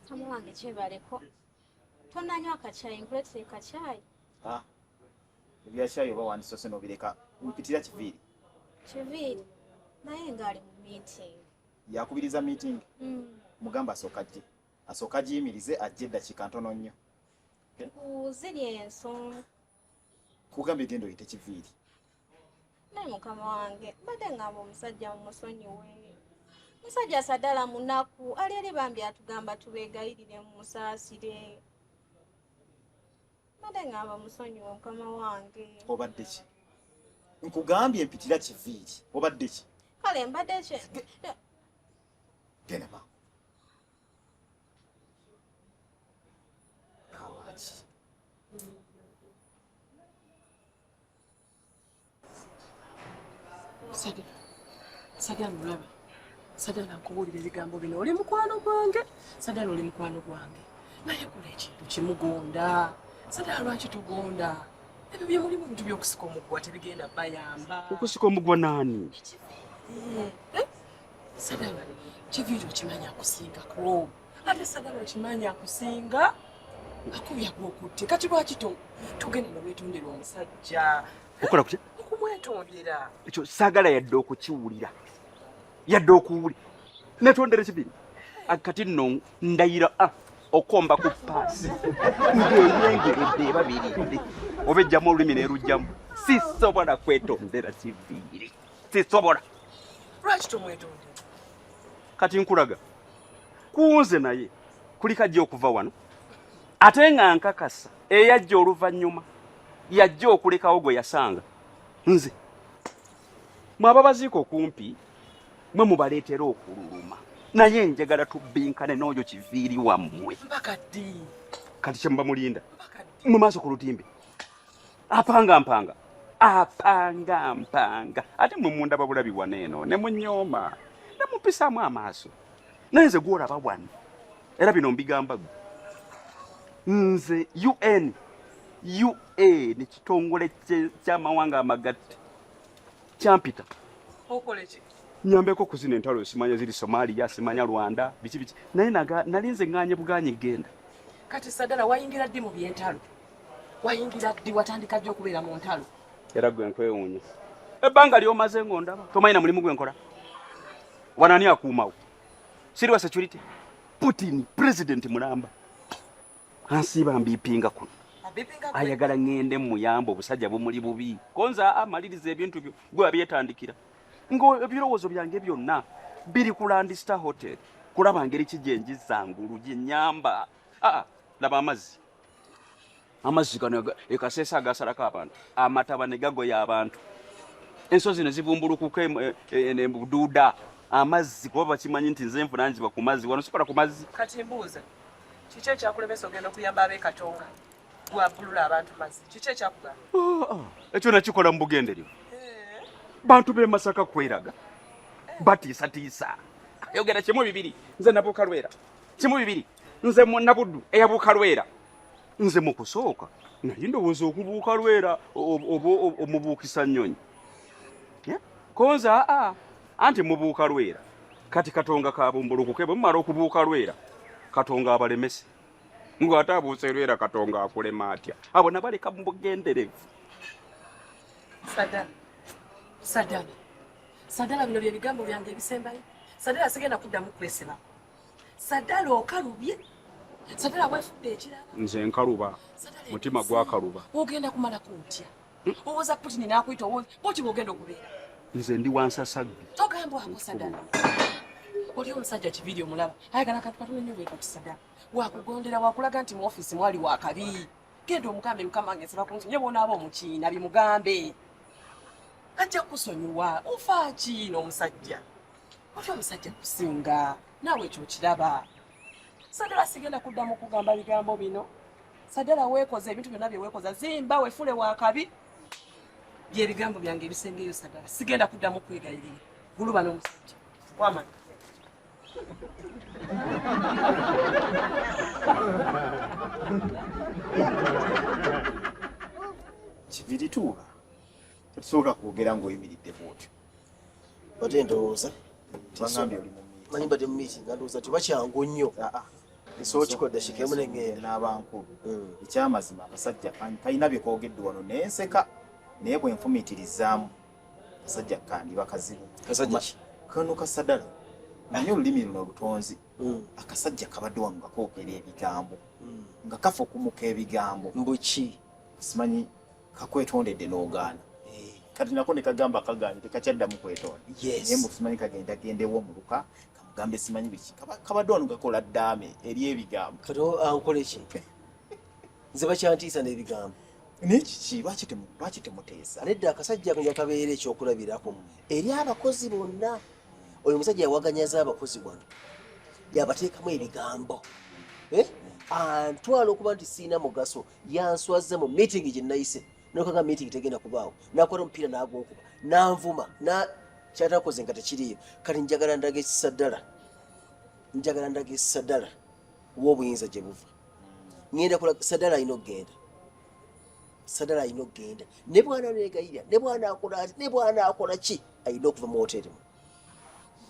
mukama wange kyebaleko tonanywa akakyayi nkuletera ekakyayi ah, ebyakyayi oba wandisose nobireka mpitira kiviiri kiviiri naye ngaali mu meeting yakubiriza meeting hmm. mugamba asooka jje asooka giyimirize ajje eddakiika ntono nnyo ziri ensonga kugambye genda oyite kiviiri naye mukama wange mbadde ngamba omusajja mumusonyiwe musajja sadala munaku ali eri bambi atugamba tubegayirire mumusaasire mbadde ngamba musonyiwe mukama wange obadde ki nkugambye mpitira kiviiri obadde ki kale mbadde ki genda maama sagala olaba sagala nkubuulira ebigambo bino oli mukwano gwange sagala oli mukwano gwange naye kola ekintu kimugonda sagala lwaki tugonda ebyo byemulimu bintu byokusika omuggwa tebigenda bayamba okusika omuggwa naani eh, eh? sagala kiviiri okimanya akusingako ate sagala okimanyi akusinga akubya gwokutte kati lwaki togenda newetondera omusajja okola kutya okumwetondera ekyo sagala yadde okukiwulira yadde okuwulira netondera ekibiri kati nno ndayira ah, okomba ku paasi ngeyengeredde ebabiri oba ejjamu olulimi nerujjamu sisobola kwetondera kiviiri sisobola lwaki tomwetondera kati nkulaga kunze naye kulika ajja okuva wano ate nga nkakasa eyajja oluvannyuma yajja okulekawo gwe yasanga nze mwe ababaziika okumpi mwe mubaleetera okululuma naye njagala tubbinkane n'oyo kiviiri wammwe kati kyemuba mulinda mu maaso ku lutimbe apanga mpanga apanga mpanga ate mwe mundaba bulabi wana eno ne munyooma ne mumpisaamu amaaso naye nze gwolaba wano era bino mbigamba gwe nze un ua ne kitongole ky'amawanga amagatte kyampita nyambeko kuzina entalo simanya ziri somalia simanya rwanda biki biki naye nalinze nganye buganye genda kati sadala wayingira ddi mu byentalo wayingira ddi watandika ddi okubeera mu ntalo era gwe nkwewuunya ebbanga lyomaze ng'ondaba tomanyina mulimu gwe nkola wanani akuumawo siriwa security putin president mulamba ansiiba mbiipinga kuno ayagala ŋŋende muyamba obusajja bumuli bubi konza amaliriza ebintu byo gwe abyetandikira ngaebirowoozo byange byonna biri ku landista hotel kulaba ngeri ki gyenjizangulu gyenyamba ah, laba amazzi amazzi gano ekaseesa agasalako abantu amataba ne gagoya abantu ensozi ne zibumbulukuka e, e, e, buduuda amazzi kuba bakimanyi nti nze nfuna nziba ku mazzi wano sikola ku mazzi kati mbuuza kiki ekyakulemesa ogenda okuyamba abekatonga gwabulula abantu mazzi kiki ekyakugamba oh, oh. ekyo nakikola mu bugenderyo eh. bantu b'e masaka kweraga eh. batiisatiisa ayogera kimu bibiri nze nabuuka lwera kimu bibiri nze munabuddu eyabuuka lwera nze mukusooka naye ndowooza okubuuka lwera oba omubuukisa nnyonyi konza aa anti mubuuka lwera kati katonga kabumbulukuke bwe mumala okubuuka lwera katonga abalemese ng'ate abuuse lwera katonga akulema atya abo nabaleka mu bugenderevu sadala sadala sadala bino bye bigambo byange ebisembayo sadala sigenda kuddamu kwesibako sadala okalubye sadala wefudde ekirala nze nkaluba mutima gwakaluba ogenda kumalako otya owoza putini nakuyita owoza boti bwogenda okubeera nze ndi wansasagge togambwako sadala oli omusajja kibiri omulaba ayagala kantu katone nyo bwekati sadala wakugondera wakulaga nti mu ofisi mwali wakabi genda omugambe mukama nge nsaba kunsi nyo bonaaba omukiina bimugambe ajja kusonyiwa ofa kiina omusajja wali omusajja kusinga naawe ekyo okiraba sagala sigenda kuddamu kugamba bigambo bino sagala weekoza ebintu byonna bye weekoza zimba wefule wakabi byebigambo byange ebisengeyo sagala sigenda kuddamu kwegayirira guluba n'omusajja wamanya kibirituuba Sobola kwogera ng'oyimiridde bwotyo. Bate ndowooza. Bangambye oli mu miiti. Manyi bade mu miiti nga ndowooza nti bakyangu nnyo. Ah, ah. Esobola kikodde kikemu ne ngenda. N'abankulu. Hmm. Ekyamazima abasajja kalina bye koogedde wano ne nseka naye bwe nfumiitirizaamu kasajja kandi bakazibu. Kasajja ki? Kano kasadala. Naye olulimi luno olutonzi. Hmm. Akasajja kabadde wano nga koogera ebigambo. Hmm. Nga kafa okumuka ebigambo. Mbuki. Simanyi kakwetondedde n'ogaana eh. kati nako nekagamba kagaanye tekakyaddamu kwetonda naye mukimanyi kagenda gendewo omuluka kamugambe simanyi biki kabadde wano gakola ddaame eri ebigambo kati ankola eki nze bakyantiisa n'ebigambo naye kiki lwaki temuteesa nedda akasajja ako yakabeera ekyokulabirako eri abakozi bonna oyo omusajja yawaganyaza abakozi wano yabateekamu ebigambo eh? antwala okuba nti siina mugaso yanswaza mu meeting gye nayise nokaga meeting tegenda kubaawo nakwata omupiira nagunkuba nanvuma na kyatakoze nga tekiriyo kati njagala ndaga ekisadala njagala ndaga ekisadala wobuyinza gye buva ngenda kola sadala alina okugenda sadala alina okugenda ne bwana negayira ne bwana akola ati ne bwana akola ki alina okuva mu woteri mu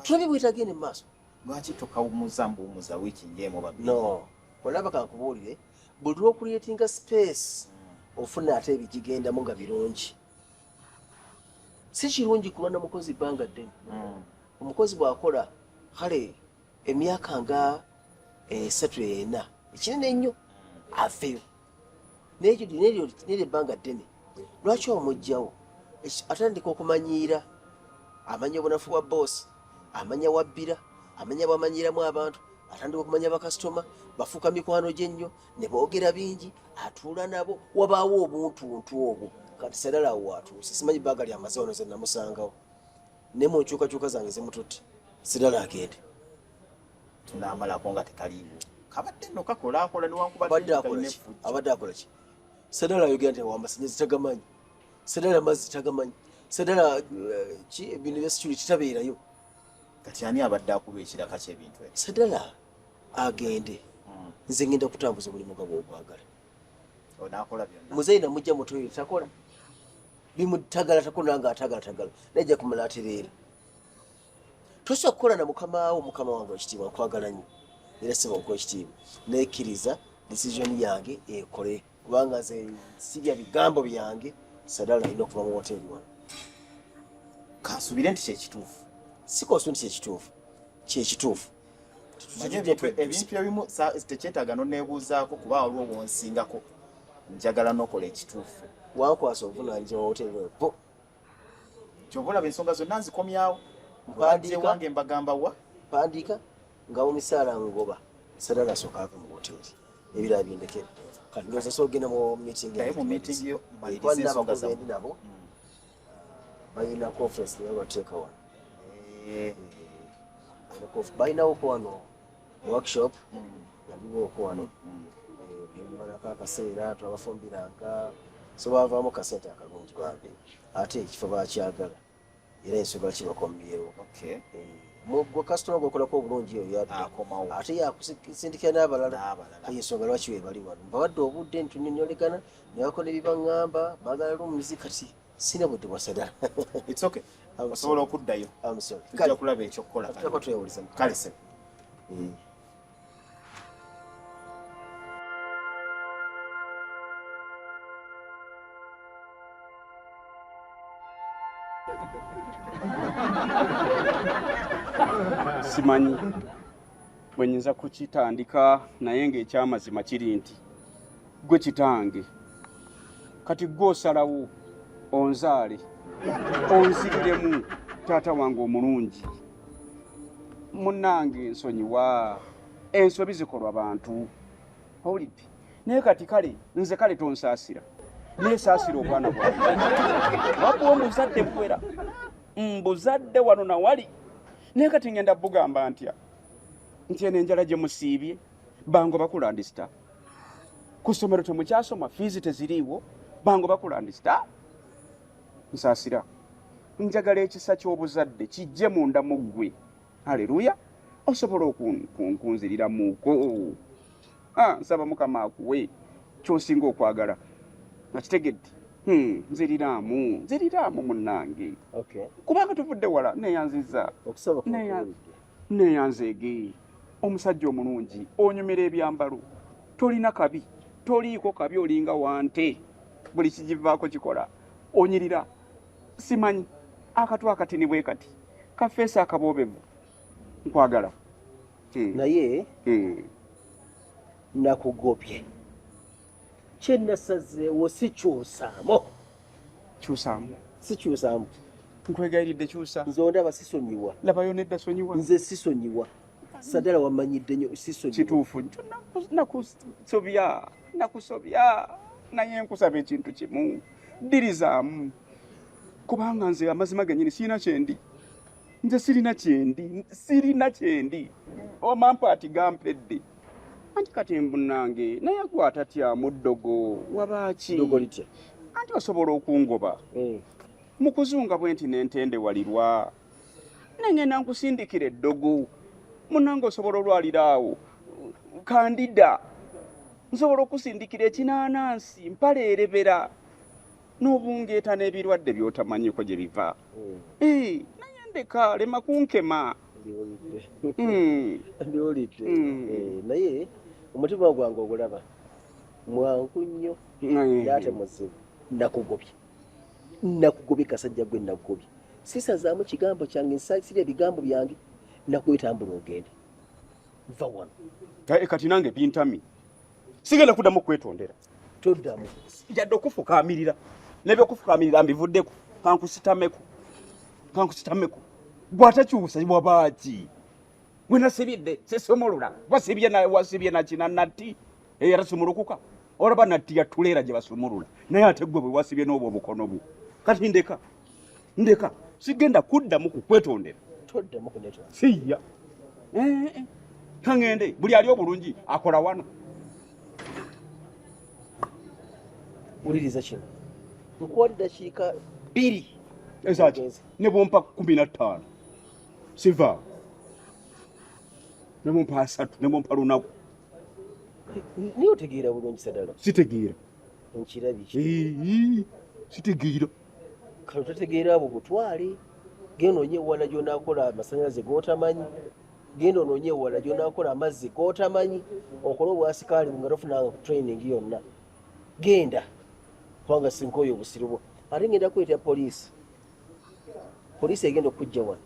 tulabe bwetagende mu maaso lwaki tokawumuza mbuwumuza wiiki njeemu babiri no olaba kankubuulire buli lwokuliyetinga space ofuna ate ebigigendamu nga birungi si kirungi kuba na mukozi bbanga ddene mm. omukozi bwakola kale emyaka nga esatu ena ekinene ennyo aveyo neryo ebbanga ddene lwaki omugyawo atandika okumanyiira amanya obunafu bwa boosi amanya wabbira amanya bwamanyiiramu abantu atandika okumanya bakasitoma bafuuka mikwano gye nnyo ne boogera bingi atuula nabo wabaawo obuntuntu obwo kati serala awo watuuse simanyi baaga lyamaze wano ze namusangawo ne mu nkyukakyuka zange zimututte serala agende tunamalako nga tekaliiwo kabadde no kakola akola newankubadde akola ki abadde akola ki Sadala ayogera nti awamba sanyalaze tagamanyi. Sadala amazzi tagamanyi. Sadala eh, ki ebintu bya security tabeerayo. Kati ani abadde akuba ekiraka ky'ebintu ebyo? Sadala agende. Hmm. Nze ngenda kutambuza omulimu gwa gw'okwagala. Onaakola byonna. Muzeeyi namujja mu toyiro takola. Bimutagala takola nga atagala tagala. Naye ajja kumala atereera. tosobola kukola na mukama wo mukama wange ekitiibwa nkwagala nnyo era sebo nkuwa ekitiibwa nekkiriza decision yange ekole kubanga nze sibya bigambo byange sadala alina okuva mu woteeri wano kansubire nti kyekituufu sikosu nti kyekituufu kyekituufu ebintu ebimu tekyetaaga noneebuuzaako kuba waliwo wonsingako njagala nokola ekituufu wankwasa obuvunanyizibwa woteeri bo kyova olaba ensonga zonna nzikomyawo mbadire wange mbagamba wa pandiika nga omisaala ngoba sadala asooka ava mu woteri ebira bindekere kati ndoza so ogenda mu mitingikwalinabakuzendi nabo mm. balina conference naye bateeka wano eh. eh. balinawoko wano workshop yaliwo okwano ebimalako eh, akaseera twabafumbiranga so bavaamu kasente akalungi bambi ate ekifo bakyagala era ensonga kibakomyewo eh, gwe kasitoma gwekolako obulungi eyo yaddakomawo ate yakusindikira n'abalala ensonga lwaki webali wano mbawadde obudde ntunenyolegana nebakola ebibaŋŋamba bagala lumizi kati sina budde bwa sadala it's okay osobola okuddayo tujja kulaba ekyokukola kale sebo mm. simanyi bwenyinza kukitandika naye ngaekyamazima kiri nti Gwe kitange kati gwe osalawo onzaale onziriremu taata wange omulungi munange nsonyiwa ensobi zikolwa bantu owulidde naye kati kale nze kale tonsaasira naye saasira obwana bwa wabuwa omuzadde buwera mbuzadde wano nawali naye kati ngenda bugamba ntya nti eno enjala gye musiibye bango bakulandisita ku somero temukyasoma fiizi teziriiwo bango bakulandisita nsasira njagala ekisa ky'obuzadde kijje munda mu ggwe aleluya osobola okunziriramuko ah, nsaba mukama akuwe kyosinga okwagala nakitegedde hmm, nziriraamu nziriraamu munange kubanga tuvudde wala neyanziza neyanzeege omusajja omulungi onyumira ebyambalo tolina kabi toliiko kabi olinga wante buli kigivaako kikola onyirira simanyi akatu akatini bwe kati kafeesi akaboobevu nkwagala eh. naye eh. nakugobye kyenasazeewo sikyusaamu kyusaamu sikyusaamu nkwegayiridde kyusa nze ondaba sisonyiwa labayo nedda sonyiwa nze sisonyiwa sadala wamanyidde nyo sisonyiwa kituufu nakusobya nakusobya naye nkusaba ekintu kimu ddirizaamu kubanga nze amazima genyini siina kyendi nze sirina kyendi sirina kyendi omampa ati gampedde anti kati embunange naye akwata tya muddogo wabaaki anti osobola okungoba hmm. mukuzunga bwe nti nentende walirwa nengenda nkusindikira eddogo munange osobola olwalira awo kandida nsobola okusindikira ekinaanansi mpaleerebera n'obungeeta n'ebirwadde by'otamanyiko gye biva naye ndeka lema kunkema hmm. hmm. eh, naye omutima gwange ogulaba mwangu nnyo ate muzibu nakugobye nakugobye kasajja gwe nakugobye sisazaamu kigambo kyange nsasira ebigambo byange nakwetambula ogende va wano kati nange bintami sigenda kuddamu kwetondera toddamu njadde okufukaamirira nebyokufukaamirira mbivuddeko kankusitameko kankusitameko gwatakyusa wabaaki gwe nasibidde sesomolola wasibye wasibye nakina natti era sumulukuka olaba natti yatuleera gye basumulula naye ate gwe bwe wasibye n'obwo obukono bwo kati ndeka ndeka sigenda kuddamu kukwetondera toddamu kunetwa siya eh, eh, eh. kangende buli ali obulungi akola wano wuliriza kino nkuwa ddakiika bbiri ezaki ne bumpa kumi na ttaano siva ne bumpa asatu ne bumpa lunaku niye otegeera bulungi sadala sitegeera nkirabiki sitegeera kano totegeera abo butwale genda onye ewala gyonakola amasanyalaze gotamanyi genda ononye ewala gyonakola amazzi gotamanyi okole obwasikaali nga tofunanga ku training yonna genda kubanga sinkoyo obusiribwo ate ngenda kweta poliisi poliisi egenda okujja wano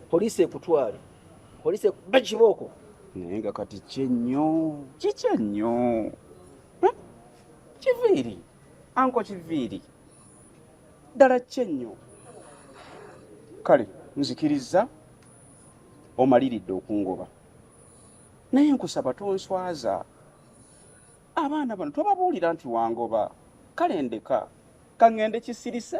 poliisi ekutwale poliisi bakibooko naye nga kati kyenyo kikyennyo hm? kiviiri Anko Kiviiri, ddala ki ennyo? Kale nzikirizza omaliridde okungoba, naye nkusaba tonswaza. Abaana bano tobabuulira nti wangoba. Kale ndeka ka ŋŋende kisirise.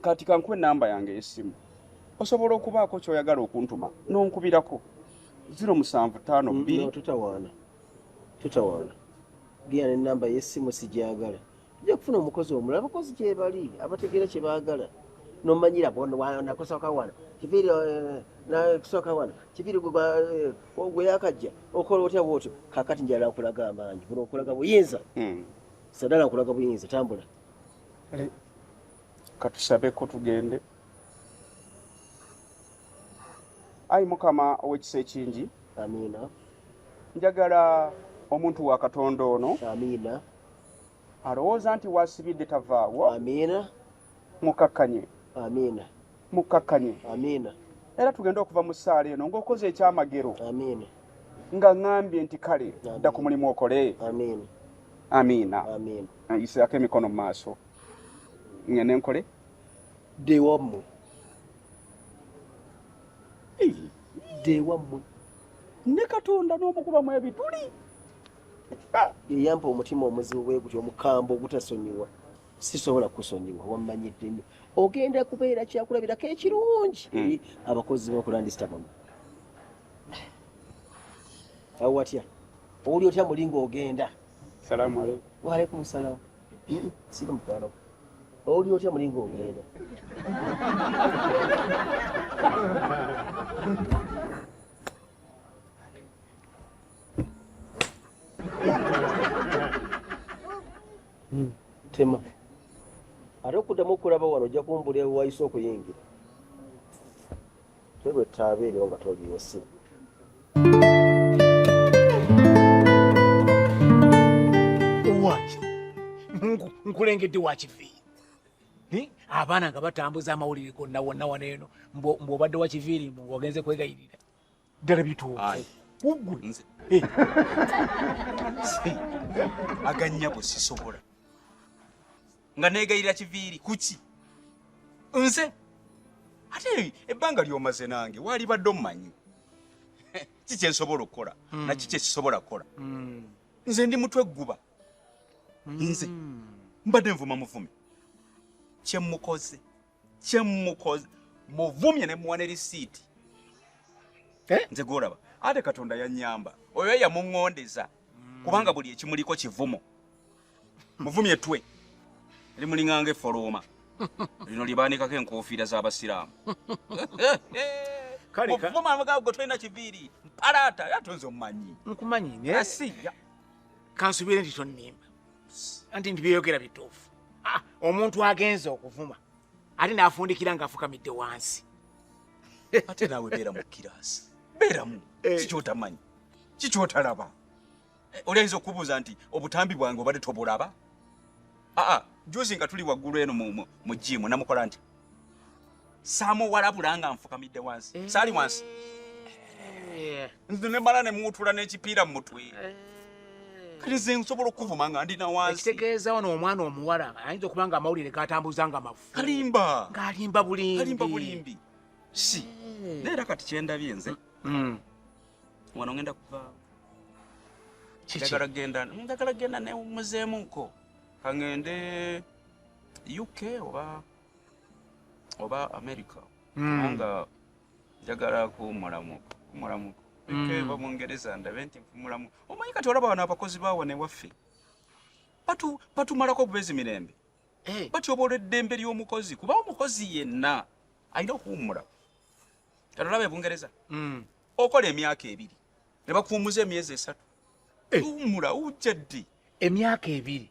kati kankuwa enamba yange eyessimu osobola okubaako kyoyagala okuntuma nonkubirako ziro musanvu taano mm, bbiri tutawaana tutawaana genda enamba yessimu sigyagala ojja kufuna omukozi omulala abakozi gyebali abategeera kyebaagala nomanyira nakusoka wano kiviri eh, nakusoka wano kiviri eh, gweyakajja okola otya bwotyo kakati njala nkulaga amaanyi buno nkulaga buyinza hmm. sadala nkulaga buyinza tambula katusabeko tugende ayi mukama owekisa ekingi amiina njagala omuntu wa katonda ono amiina alowooza nti wasibidde tavaawo amiina mukakkanye amiina mukkakkanye amiina era tugenda okuva mu ssaala eno ng'okoze ekyamagero amiina nga ŋambye nti kale dda ku mulimu okole amiina amiina yiseako emikono mu maaso ngende nkole dewammwe dewammwe ne katonda n'omukubamu ebituli eyampa omutima omuzibu bwe gutyo omukambwe ogutasonyiwa sisobola kusonyiwa wammanyidde nnyo ogenda kubeera kyakulabirako ekirungi hmm. eri abakozi bokulandisitabamu awo watya owuli otya muli ngaogenda waalaikum salaamu hmm, sika mukwano owuli otya muli ngaogenda hmm. tema ate okuddamu okulaba wano ojja kumbula ewayise okuyingira tebwetaaba eryo nga toliwo si nkulengedde wakivi abaana nga batambuza amawulire gonna wonna wano eno mbu obadde wakiviiri mbu ogenze kwegayirira ddala bituufu ugwe eh. aganyabo sisobola nga negayira kiviiri kuki nze ate ebbanga lyomaze nange walibadde omumanyi ki kyensobola okukola hmm. naki kyesisobola kukola hmm. nze ndi mutwe gguba hmm. nze mbadde nvuma muvumi kyemukoze kyemukoze muvumye ne muwa ne lisiiti eh? nze gwolaba ate katonda yanyamba oyo yamuŋŋondeza kubanga buli ekimuliko kivumo muvumye twe limulinganga efolooma lino libaanikako enkuufiira z'abasiraamu muvuma amagaago gwe tolina kiviiri mpalaata yatonze omumanyi nkumanyi naye asiya kansubire nti tonnimba anti nti byeyogera bituufu ah, omuntu agenza okuvuma ate n'afundikira ng'afukamidde wansi ate naawe beera mu kiraasi beeramu eh. kikyotamanyi kikyotalaba eh, oli ayinza okubuuza nti obutambi bwange obadde tobulaba aa ah, ah, juzi nga tuli waggulu eno mu jiimu namukola nti saamuwalabula nga nfukamidde wansi eh. saali wansi eh. nze ne mala ne muwutula n'ekipiira mu mutwe eh. kati nze nsobola okuvuma nga ndi na wansi ekitegeeza ono omwana omuwala ayinza okuba nga amawulire gatambuza nga mafu kalimba ng'alimba bulimbi bulimbi si naye era kati kyendabye nze mm. wano ngenda kuva njagala genda njagala genda ne muzeemuko kangende uk oba oba america hmm. kubanga njagala kumulamuko kumulamuko hmm. ekeba bungereza ndabe nti nfumulamu omanyi kati olaba wano abakozi bawa newaffe batumalako bubezi mirembe eh. batyobola eddembe ly'omukozi kuba omukozi yenna alina okuwummula kati olaba ebungereza hmm. okola emyaka ebiri ne bakuwummuza emyezi esatu eh. tuwummula ujja ddi emyaka ebiri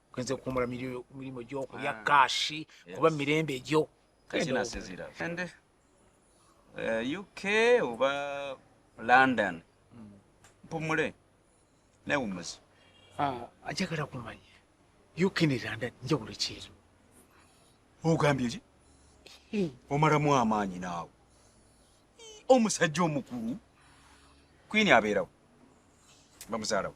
kwenze kuwumula mirimu gyokulya ah, kashi kuba mirembe egyo kasinasizira ende eh, uk oba london hmm. mpumule newumuzi ah, ajagala kumanya uk ne london njawulo kyeru ogambye ki hmm. omalamu amaanyi naawe omusajja omukulu kwini abeerawo bamuzaalawo